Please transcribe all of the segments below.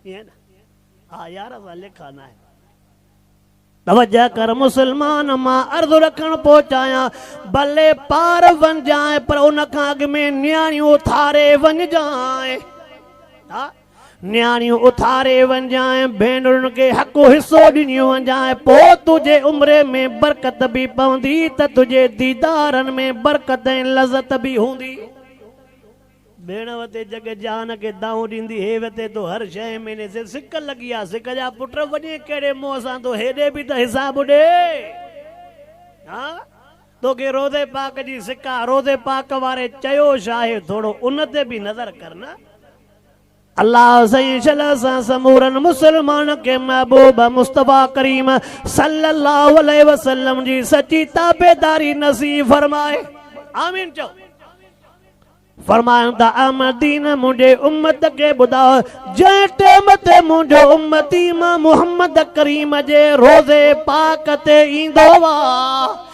ائين نه؟ ها يار اسان لکا ناهن. توجه ڪر مسلمان مان عرض رکڻ پهچايان ڀلي پار وڃجانء پر ان کان اڳ ۾ نياڻيون اٿاري وڃجانء ها نياڻيون اٿاري وڃجانء ڀينرن کي حق و حصو ڏنيون وڃجانء پوء تنهنجي عمري ۾ برڪت به پوندي ته تنهنجي ديدارن ۾ برڪت ۽ لذت به هوندي. ڀيڻ وتي جڳ جهان کي دانهون ڏيندي هي وتي تو هر شيء ۾ ني سي سڪ لڳي آ سڪ جا پٽ وڃي ڪهڙي منهن سان تو هيڏي به ته حساب ڏي ها توکي روضي پاڪ جي سڪ آ روضي پاڪ واري چيو شاهي ٿورو ان تي به نظر ڪر نه. الله سائين شل سان سمورن مسلمان کي محبوب مصطفي ڪريم صلي الله عليه وسلم جي سچي تابعداري نصيب فرمائي آمين چئو فرمائن ته احمدين منهنجي امت کي ٻڌاء جنهن ٽيم تي منهنجو امتي مان محمد ڪريم جي روزي پاڪ تي ايندو آ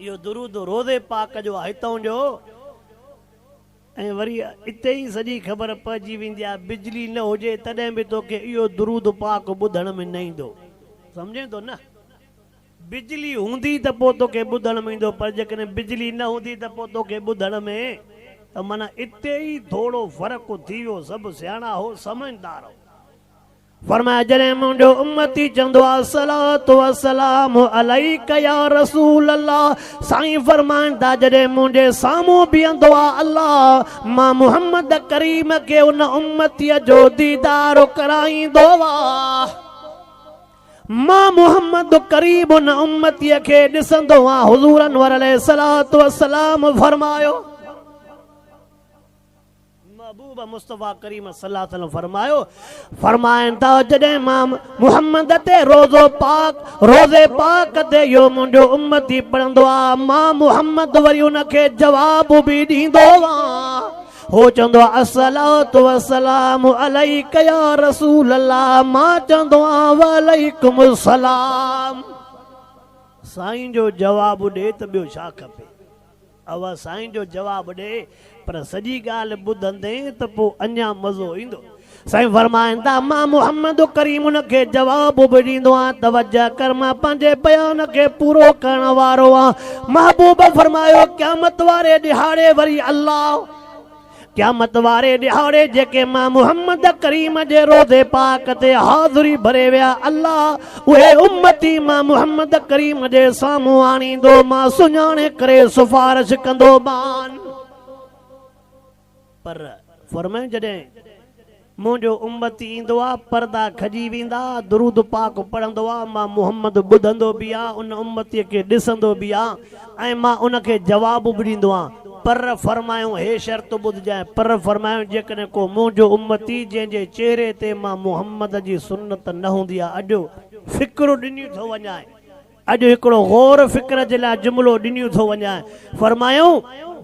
اهو درود روضي پاڪ جو آهي هتئون جو ۽ وري اتي ئي سڄي خبر پئجي ويندي آهي بجلي نه هجي تڏهن به توکي اهو درود پاڪ ٻڌڻ ۾ نه ايندو سمجهين ٿو نه بجلي هوندي ته پوء توکي ٻڌڻ ۾ ايندو پر جيڪڏهن بجلي نه هوندي ته پوء توکي ٻڌڻ ۾ ته معنيٰ اتي ئي ٿورو فرق ٿي ويو سڀ سياڻا هو سمجهدار هو. فرمايو جڏهن منهنجو امتي چوندو الصلوة والسلام عليڪ يا رسول الله سائين فرمائن ٿا جڏهن منهنجي سامهون بيهندو آهي الله مان محمد ڪريم کي ان امتي جو ديدار ڪرائيندو آهي مان محمد ڪريم ان امتي کي ڏسندو آهيان حضور انور عليه الصلوة والسلام فرمايو محبوب مصطفيٰ ڪريم صلي الله عليه وسلم فرمايو فرمائن ٿا جڏهن مان محمد تي روزو پاڪ روزي پاڪ تي اهو منهنجو امتي پڙهندو آ مان محمد وري ان کي جواب به ڏيندو آ هو چوندو آ الصلوۃ والسلام عليک يا رسول الله مان چوندو آ وعليکم السلام سائين جو جواب ڏي ته ٻيو ڇا کپي اھا سائين جو جواب ڏي پر سڄي ڳالھه ٻڌندين ته پوء اڃا مزو ايندو. سائين فرمائن ٿا، مان محمد ڪريم ان کي جواب به ڏيندو آھيان، توجه ڪر مان پنھنجي بيان کي پورو ڪرڻ وارو آھيان. محبوب فرمايو، قيامت واري ڏھاڙي وري الله. قيامت واري ڏهاڙي جيڪي ماڻهو محمد ڪريم جي روضي پاڪ تي حاضري ڀري ويا، الله اهي امتي مان محمد ڪريم جي سامهون آڻيندو مان سڃاڻي ڪري سفارش ڪندو مان. پر فرمايائون جڏهن منهنجو امتي ايندو آ، پردا کڄي ويندا، درود پاڪ پڙهندو آ، مان محمد ٻڌندو به آ، ان امتيء کي ڏسندو به آ ۽ مان ان کي جواب به ڏيندو آ. پر فرمايون، هي شرط ٻڌجانء، پر فرمايون، جيڪڏهن ڪو منهنجو امتي، جنهن جي چهري تي مان محمد جي سنت نه هوندي آ، اڄ فڪرو ڏني ٿو وڃائي، اڄ هڪڙو غور فڪر جي لاء جملو ڏنيون ٿو وڃان، فرمايائون،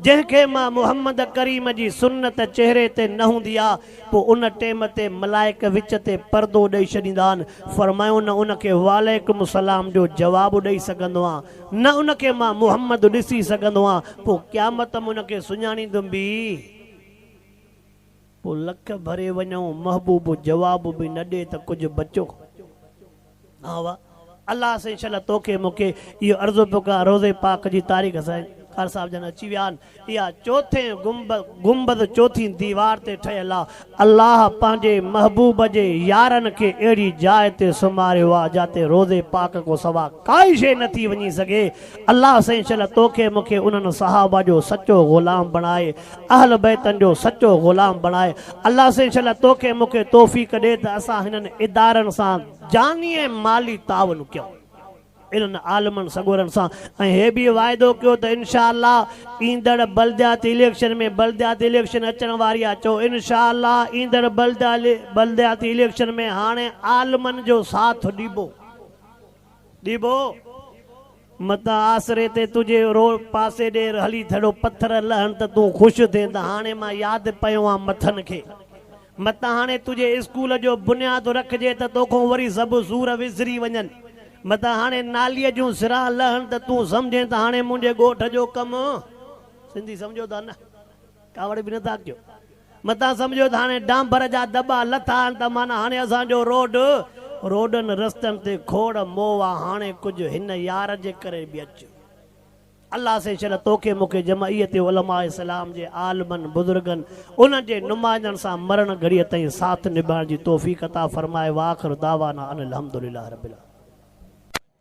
جنهن کي مان محمد ڪريم جي سنت چهري تي نه هوندي آ، پوء ان ٽيم تي ملائڪ وچ تي پردو ڏئي ڇڏيندا آهن، فرمايائون نه ان کي وعليڪم السلام جو جواب ڏئي سگهندو آن، نه ان کي مان محمد ڏسي سگهندو آن، پوء قيامت م ان کي سڃاڻيندم به؟ پوء لک ڀري وڃائون، محبوب جواب به نه ڏئي ته ڪجهه بچو. ها وا الله سائين انشاءالله توکي مونکي اهو عرضو پيو ڪران روضي پاڪ جي تاريخ سائين قاري صاحب جن اچي ويا آهن اها چوٿين گنبذ چوٿين ديوار تي ٺهيل آهي الله پنهنجي محبوب جي يارن کي اهڙي جاء تي سمهاريو آهي جاتي روضي پاڪ کان سوا ڪائي شيء نٿي وڃي سگهي الله سائين انشاءالله توکي مونکي انهن صحابه جو سچو غلام بڻائي اهل بيتن جو سچو غلام بڻائي الله سائين انشاءالله توکي مونکي توفيق ڏي ته اسان هنن ادارن سان جاني ۽ مالي تعاون ڪيون انهن عالمن سڳورن سان ۽ هي به واعدو ڪيو ته انشاءالله ايندڙ بلدياتي اليڪشن ۾ بلدياتي اليڪشن اچڻ واري آ چئو انشاءالله ايندڙ بلدياتي اليڪشن ۾ هاڻي عالمن جو ساٿ ڏبو. ڏيبو! متان آسري تي تنهنجي رو پاسي ڏير هلي ٿڙو پٿر لهن ته تون خوش ٿين ته هاڻي مان ياد پيو آن مٿن کي. متان هاڻي تنهنجي اسڪول جو بنياد رکجي ته توکون وري سڀ سور وسري وڃن. متان هاڻي ناليء جون سران لهن ته تون سمجهين ته هاڻي منهنجي ڳوٺ جو ڪم سنڌي سمجهو ٿا نه؟ ڪاوڙ به نٿا ڪيو. متان سمجهيو ته هاڻي ڊانڀر جا دٻا لٿا آهن ته معنيٰ هاڻي اسان جو روڊ، روڊن رستن تي کوڙ موء آ، هاڻي ڪجهه هن يار جي ڪري به اچ. الله سين شل توکي مون کي جمعيت علماء اسلام جي عالمن، بزرگن، انهن جي نمائندن سان مرڻ گهڙيء تائين ساٿ نڀائڻ جي توفيق عطا فرمائي واخر دعوانا ان الحمدلله رب العالمين.